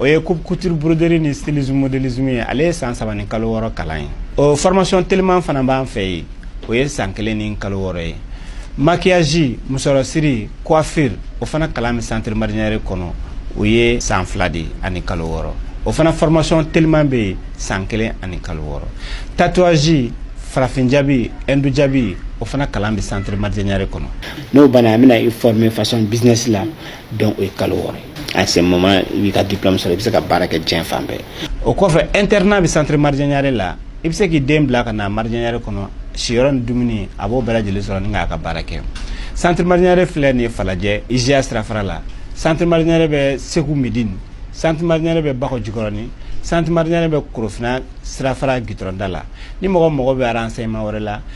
o ye coupe couture broderie ni stylisme modélisme ye ale ye san saba ni kalo wɔɔrɔ kalan ye o formation teliman fana b'an fɛ yen o ye san kelen ni kalo wɔɔrɔ ye maquillage musɔrɔsiri coiffure o fana kalan bɛ centre maridjè niaré kɔnɔ o ye san fila de ani kalo wɔɔrɔ o fana formation teliman bɛ yen san kelen ani kalo wɔɔrɔ tatouage farafin jabi hindu jabi o fana kalan bɛ centre maridjè niaré kɔnɔ n'o banna an bɛna i former fashion business la donc o ye kalo wɔɔrɔ ye à ce moment i b'i ka diplôme sɔrɔ i bɛ se ka baara kɛ diɲɛ fan bɛɛ o kɔfɛ internat bɛ centre maridjè niaré la i bɛ se k'i den bila ka na maridjè niaré kɔnɔ siyɔrɔ ni dumuni a b'o bɛɛ lajɛlen sɔrɔ ni k'a ka baara kɛ centre maridjè niaré filɛ nin ye falajɛ IJA sirafara la centre maridjè niaré bɛ segu medini centre maridjè niaré bɛ bakɔ jikɔrɔni centre maridjè niaré bɛ korofina sirafara gitɔrɔnda la ni mɔgɔ mago bɛ renseignement wɛrɛ la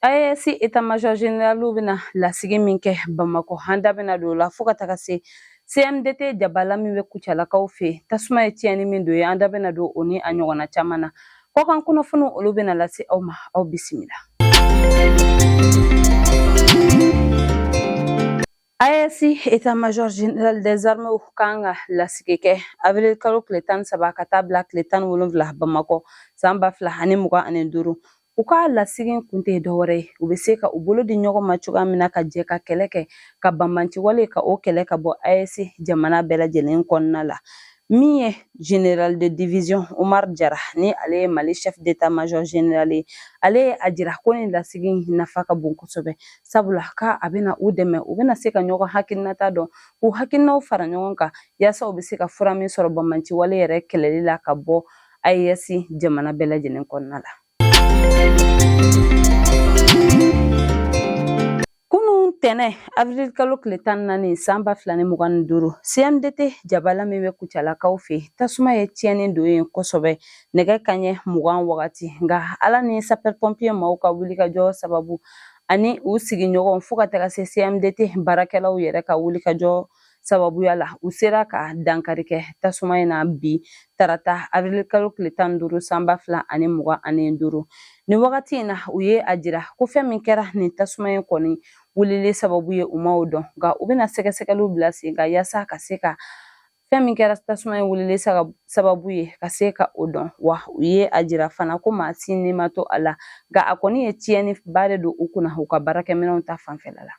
AES état major général bɛna lasigi min kɛ Bamakɔ an da bɛna don o la fo ka taga se CMDT jabala min bɛ Kucalakaw fɛ yen tasuma ye tiɲɛni min don yen an da bɛna don o ni a ɲɔgɔnna caman na kɔkan kunnafoniw olu bɛna lase aw ma aw bisimila. AES eta major general des armées kan ka lasigi kɛ avril kalo tile tan ni saba ka taa bila tile tan ni wolonfila bamakɔ san ba fila ani mugan ani duuru u ka lasigi kun tɛ dɔwɛrɛ ye u bɛ se ka u bolo di ɲɔgɔn ma cogoya min na ka jɛ ka kɛlɛ kɛ ka banbanciwale ka o kɛlɛ ka bɔ AES jamana bɛɛ lajɛlen kɔnɔna la min ye general de division Omar Jara ni ale ye Mali chef d'état major general ye ale ye a jira ko nin lasigi in nafa ka bon kosɛbɛ sabula ka a bɛna u dɛmɛ u bɛna se ka ɲɔgɔn hakilinata dɔn k'u hakilinaw fara ɲɔgɔn kan yaasa u bɛ se ka fura min sɔrɔ banbanciwale yɛrɛ kɛlɛli la ka bɔ AES jamana bɛɛ lajɛlen kɔnɔna la ntɛnɛn avril kalo tile tan ni naani san ba fila ni mugan ni duuru cmdt jabala min bɛ kucalakaw fɛ tasuma ye tiɲɛni don yen kosɛbɛ nɛgɛ kanɲɛ mugan wagati nka ala ni sapɛr pɔnpiye maaw ka wulikajɔ sababu ani u sigiɲɔgɔn fo ka taga se cmdt baarakɛlaw yɛrɛ ka wulikajɔ sababuya la u sera ka dankari kɛ tasuma in na bi tarata avril kalo tile tan ni duuru sanba fila ani mugan ani duuru ni wagati in na u ye a jira ko fɛn min kɛra nin tasuma in kɔni wulili sababu ye u ma o dɔn nka u bɛna sɛgɛsɛgɛliw bila sen kan yaasa ka se ka fɛn min kɛra tasuma in wulili sababu ye ka se ka o dɔn wa u ye a jira fana ko maa si ni ma to a la nka a kɔni ye tiɲɛni ba de don u kunna u ka baarakɛminɛnw ta fanfɛla la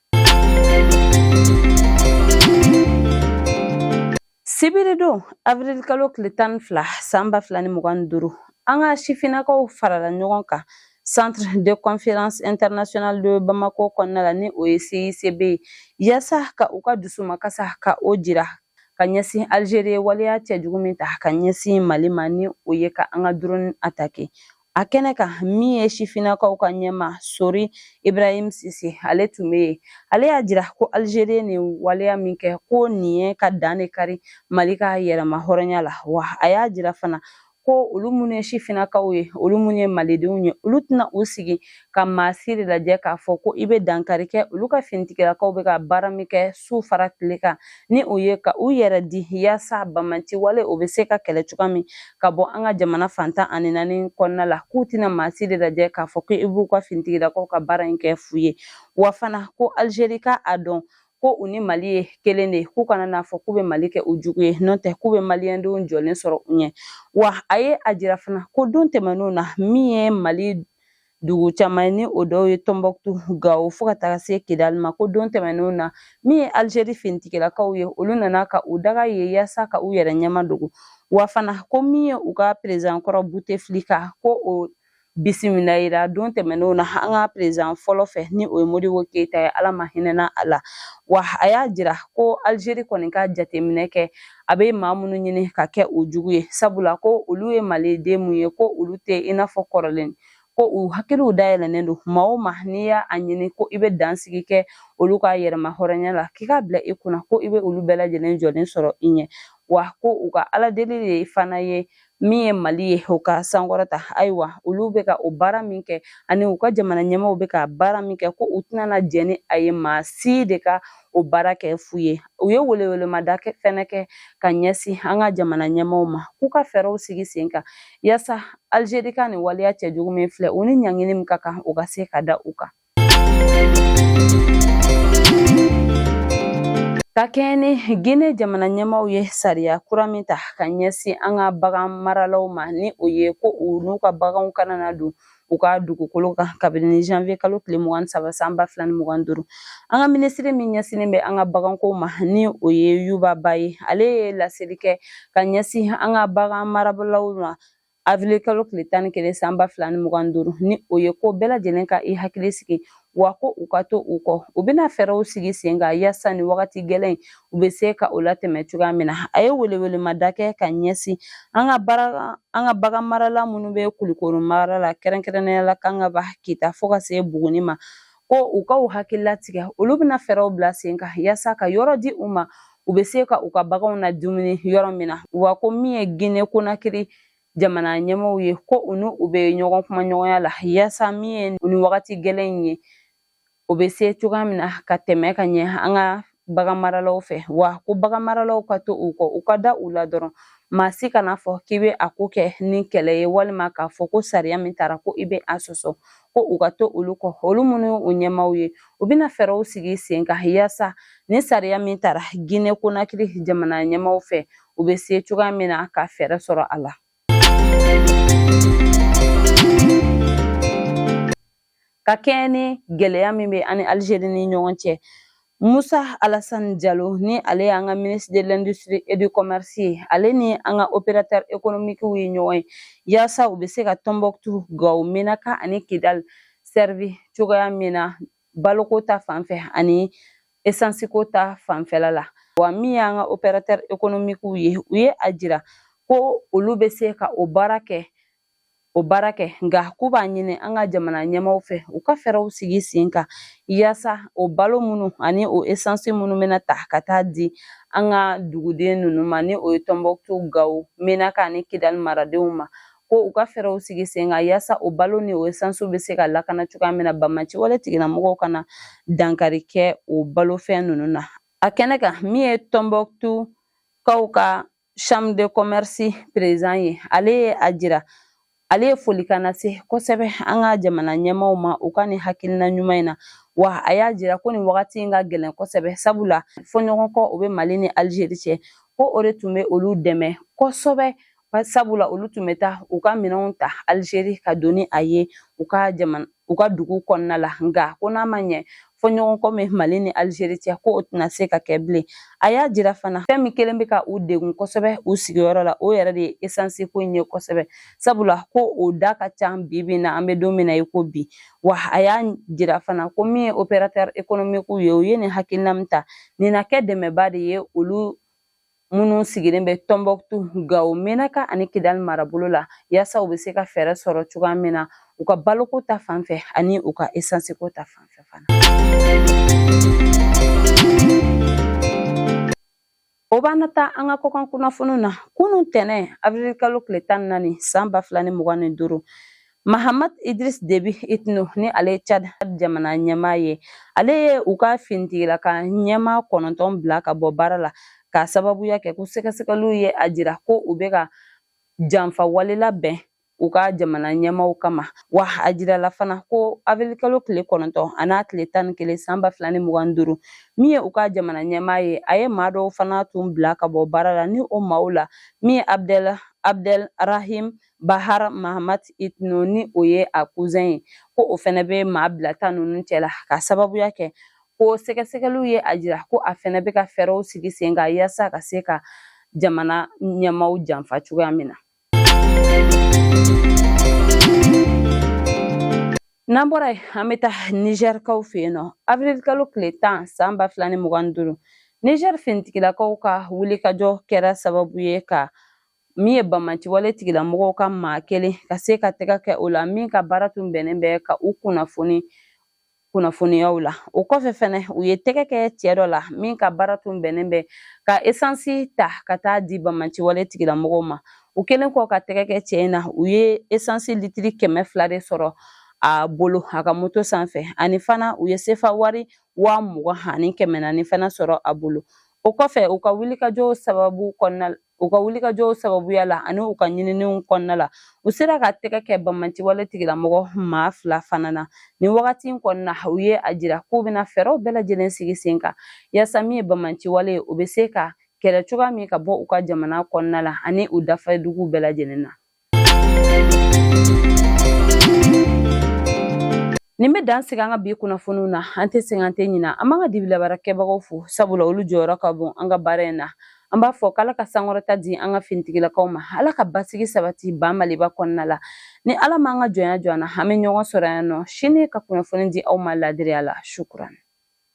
sibiridon avril kalo tile tan ni fila san ba fila ni mugan ni duuru an ka sifinnakaw farala ɲɔgɔn kan centre de conférence international de bamako kɔnɔna la ni o ye CICB ye yaasa ka u ka dusumakasa ka o jira ka ɲɛsin alizeri ye waleya cɛjugu min ta ka ɲɛsin mali ma ni o ye ka an ka dɔrɔni atake a kɛnɛ kan min ye sifinnakaw ka ɲɛmaa sori ibrahim sise ale tun bɛ yen ale y'a jira ko alizeri ye nin waleya min kɛ ko nin ye ka dan de kari mali ka yɛrɛmahɔrɔnya la wa a y'a jira fana ko olu minnu ye sifinnakaw ye olu minnu ye malidenw ye olu tɛna u sigi ka maa si de lajɛ k'a fɔ ko i bɛ dankari kɛ olu ka finitigilakaw bɛ ka baara min kɛ su fara tile kan ni o ye ka u yɛrɛ di yaasa banbaanci wale o bɛ se ka kɛlɛ cogoya min ka bɔ an ka jamana fan tan ani naani kɔnɔna la k'u tɛna maa si de lajɛ k'a fɔ ko i b'u ka finitigilakaw ka baara in kɛ fu ye wa fana ko alizeri ka a dɔn ko u ni mali ye kelen de ye k'u kana n'a fɔ k'u bɛ mali kɛ u jugu ye n'o tɛ k'u bɛ maliyɛndenw jɔlen sɔrɔ u ɲɛ wa a ye a jira fana ko don tɛmɛnenw na min ye mali dugu caman ye ni o dɔw ye tɔnbɔkutu gawo fo ka taga se kidali ma ko don tɛmɛnenw na min ye alizeri finitigilakaw ye olu nana ka u daga yen yaasa ka u yɛrɛ ɲɛmadogo wa fana ko min ye u ka perezan kɔrɔ buteflika ko o bisimilahira don tɛmɛnenw na an ka perezan fɔlɔ fɛ ni o ye modibo keyita ye ala ma hinɛna a la wa a y'a jira ko alizeri kɔni ka jateminɛ kɛ a bɛ maa minnu ɲini ka kɛ u jugu ye sabula ko olu ye maliden min ye ko olu tɛ i n'a fɔ kɔrɔlen ko u hakiliw dayɛlɛnnen don maa o maa n'i y'a ɲini ko i bɛ dansigi kɛ olu ka yɛrɛmahɔrɔnya la k'i k'a bila i kunna ko i bɛ olu bɛɛ lajɛlen jɔlen sɔrɔ i ɲɛ wa ko u ka ala deli de fana ye min ye mali ye o ka sankɔrɔta ayiwa olu bɛ ka o baara min kɛ ani u ka jamana ɲɛmaaw bɛ ka baara min kɛ ko u tɛna jɛn ni a ye maa si de ka o baara kɛ fu ye u ye welewelemada fɛnɛ kɛ ka ɲɛsin an ka jamana ɲɛmaaw ma k'u ka fɛɛrɛw sigi sen kan yaasa alizeri ka nin waleya cɛjugu min filɛ u ni ɲangini min ka kan u ka se ka da u kan Ka kɛɲɛ ni Gine jamana ɲɛmaaw ye sariya kura min ta ka ɲɛsin an ka bagan maralaw ma ni o ye ko u n'u ka baganw kana na don u ka dugukolo kan kabini janvier kalo tile mugan ni saba san ba fila ni mugan duuru an ka minisiri min ɲɛsinnen bɛ an ka baganko ma ni o ye yuba ba ye ale ye laseli kɛ ka ɲɛsin an ka bagan maralaw ma awirili kalo tile tan ni kelen san ba fila ni mugan ni duuru ni o ye ko bɛɛ lajɛlen ka i hakili sigi wa ko u ka to u kɔ u bɛna fɛɛrɛw sigi sen kan yaasa nin wagati gɛlɛn in u bɛ se ka o latɛmɛ cogoya min na a ye welewelemada kɛ ka ɲɛsin an ka bagan marala minnu bɛ kulikɔrɔ mara la kɛrɛnkɛrɛnnenya la kangaba kita fo ka se buguni ma ko u ka u hakili latigɛ olu bɛna fɛɛrɛw bila sen kan yaasa ka yɔrɔ di u ma u bɛ se ka u ka baganw ladumuni yɔrɔ min na wa ko min ye gine konakiri jamana ɲɛmaaw ye ko u ni u bɛ ɲɔgɔn kumaɲɔgɔnya la yaasa min ye nin wagati gɛlɛn in ye o bɛ se cogoya min na ka tɛmɛ ka ɲɛ an ka bagan maralaw fɛ wa ko bagan maralaw ka to u kɔ u ka da u la dɔrɔn maa si kana fɔ k'i bɛ a ko kɛ ni kɛlɛ ye walima k'a fɔ ko sariya min tara ko i bɛ a sɔsɔ ko u ka to olu kɔ olu minnu u ɲɛmaaw ye u bɛna fɛɛrɛw sigi sen kan yaasa ni sariya min tara gine konakiri jamana ɲɛmaaw fɛ u bɛ se cogoya min na ka fɛɛrɛ sɔrɔ a la ka kɛɲɛ ni gɛlɛya min bɛ an ni alizeri ni ɲɔgɔn cɛ musa alasani jalo ni ale y'an ka ministre de l'industrie et du commerce ye ale ni an ka opérateur économiquew ye ɲɔgɔn ye yaasa u bɛ se ka tɔnbɔkutu gawo menaka ani kidali sɛrivi cogoya min na baloko ta fanfɛ ani esansiko ta fanfɛla la wa min y'an ka opérateur économiquew ye u ye a jira ko olu bɛ se ka o baara kɛ o baara kɛ nka k'u b'a ɲini an ka jamana ɲɛmaaw fɛ u ka fɛɛrɛw sigi sen kan yaasa o balo minnu ani o esansi minnu bɛna ta ka taa di an ka duguden ninnu ma ni o ye tɔnbɔkutu gawo menaka ani kidali maradenw ma ko u ka fɛɛrɛw sigi sen kan yaasa o balo ni o esansiw bɛ se ka lakana cogoya min na banbaanci wale tigilamɔgɔw kana dankari kɛ o balofɛn ninnu na a kɛnɛ kan min ye tɔnbɔkutu kaw ka Chambre de commerce président ye ale ye a jira ale ye folikan lase kosɛbɛ an ka jamana ɲɛmaaw ma u ka nin hakilina ɲuman in na wa a y'a jira ko nin wagati in ka gɛlɛn kosɛbɛ sabula fɔɲɔgɔnkɔ o bɛ mali ni alizeri cɛ ko o de tun bɛ olu dɛmɛ kosɛbɛ sabula olu tun bɛ taa u ka minɛnw ta alizeri ka don ni a ye u ka jamana u ka dugu kɔnɔna la nka ko n'a ma ɲɛ fɔɲɔgɔnkɔ min mali ni alizeri cɛ ko o tɛna se ka kɛ bilen a y'a jira fana fɛn min kelen bɛ ka u degun kosɛbɛ u sigiyɔrɔ la o yɛrɛ de ye esansiko in ye kosɛbɛ sabula ko o da ka ca bi bi na an bɛ don min na i ko bi wa a y'a jira fana ko min ye opérateur économiquew ye u ye nin hakilina min ta nin na kɛ dɛmɛba de ye olu minnu sigilen bɛ tɔnbɔkutu gawo menaka ani kidali marabolo la yaasa u bɛ se ka fɛɛrɛ sɔrɔ cogoya min na u ka baloko ta fan fɛ ani u ka esansiko ta fan fɛ fana o b'an na taa an ka kɔkan kunnafoniw na kunun tɛnɛ avril kalo tile tan ni naani san ba fila ni mugan ni duuru Mahamat Idriss Déby Itno ni ale ye Tchad jamana ɲɛmaa ye ale ye u ka finitigilaka ɲɛmaa kɔnɔntɔn bila ka bɔ baara la k'a sababuya kɛ ko sɛgɛsɛgɛliw ye a jira ko u bɛ ka janfa wale labɛn u ka jamana ɲɛmaaw kama wa a jirala fana ko avril kalo tile kɔnɔntɔn an'a tile tan ni kelen san ba fila ni mugan ni duuru min ye u ka jamana ɲɛmaa ye a ye maa dɔw fana tun bila ka bɔ baara la ni o maaw la min ye abdel abdel rahim Bahar Mahamat Itno ni o ye a kuzɛn ye ko o fɛnɛ bɛ maa bilata ninnu cɛla ka sababuya kɛ ko sɛgɛsɛgɛliw ye a jira ko a fɛnɛ bɛ ka fɛɛrɛw sigi sen kan yaasa ka se ka jamana ɲɛmaaw janfa cogoya min na. n'an bɔra yen an bɛ taa nizɛrikaw fɛ yen nɔ abirilkalo tile tan san ba fila ni mugan ni duuru nizɛri finitigilakaw ka wulikajɔ kɛra sababu ye ka min ye banbaanciwale tigilamɔgɔw ka maa kelen ka se ka tɛgɛ kɛ o la min ka baara tun bɛnnen bɛ ka u kunnafoniyaw la o kɔfɛ fɛnɛ u ye tɛgɛ kɛ cɛ dɔ la min ka baara tun bɛnnen bɛ ka esansi ta ka taa di banbaanciwale tigilamɔgɔw ma u kɛlen kɔ ka tɛgɛ kɛ cɛ in na u ye esansi litiri kɛmɛ fila de sɔrɔ a bolo a ka moto sanfɛ ani fana u ye sefa wari waa mugan ani kɛmɛ naani fana sɔrɔ a bolo o kɔfɛ u ka wulikajɔw sababu kɔnɔna u ka wulikajɔw sababuya la ani u ka ɲininiw kɔnɔna la u sera ka tɛgɛ kɛ banbaanciwale tigilamɔgɔ maa fila fana na nin wagati in kɔnɔna u ye a jira k'u bɛna fɛɛrɛw bɛɛ lajɛlen sigi sen kan yaasa min ye banbaanciwale ye u bɛ se ka kɛlɛ cogoya min ka bɔ u ka jamana kɔnɔna la ani u dafaduguw bɛɛ lajɛlen na Nin bɛ dan sigi an ka bi kunnafoniw na an tɛ sɛgɛn an tɛ ɲina an b'an ka dibilabaarakɛbagaw fo sabula olu jɔyɔrɔ ka bon an ka baara in na an b'a fɔ k'ala ka sankɔrɔta di an ka finitigilakaw ma ala ka basigi sabati ba maliba kɔnɔna la ni ala m'an ka jɔnya jɔ an na an bɛ ɲɔgɔn sɔrɔ yan nɔ sini ka kunnafoni di aw ma laadiriya la sukurani